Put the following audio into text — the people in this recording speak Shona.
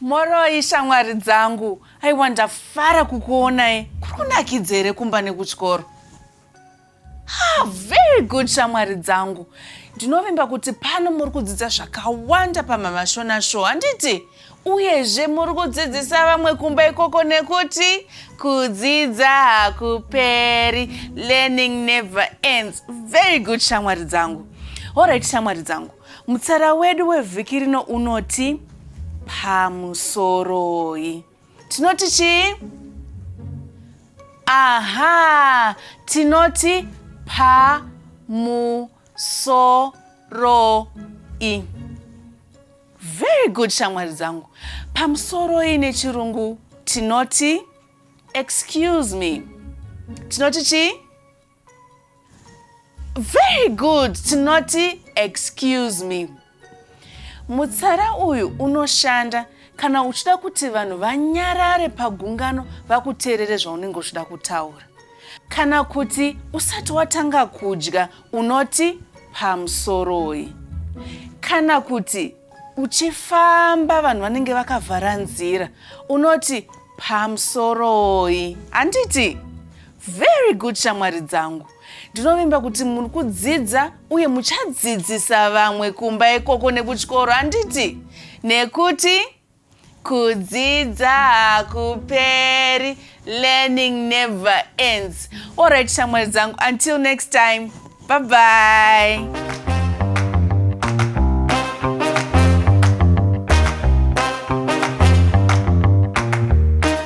moroi shamwari dzangu aiwa ndafara kukuonai kuri kunakidza here kumba nekutyoro ah, very good shamwari dzangu ndinovimba kuti pano muri kudzidza zvakawanda pamamashona show handiti Uyezve muri kudzidzisa vamwe kumba ikoko nekuti kudzidza hakuperi learning never ends. Very good shamwari dzangu. Alright shamwari dzangu. Mutsara wedu wevhiki rino unoti pamusoroi. Tinoti chii? Aha, tinoti pamusoroi. Very good shamwari dzangu. Pamusoro ine chirungu tinoti excuse me. Tinoti chi? Very good. Tinoti excuse me. Mutsara uyu unoshanda kana uchida kuti vanhu vanyarare pagungano vakuteerere zvaunenge uchida kutaura kana kuti usati watanga kudya Unoti pamusoroi? Kana kuti uchifamba vanhu vanenge vakavhara nzira unoti pamusoroi handiti very good shamwari dzangu ndinovimba kuti muri kudzidza uye muchadzidzisa vamwe kumba ikoko nekuchikoro handiti nekuti Kudzidza hakuperi, learning never ends. Alright shamwari dzangu, until next time, bye bye.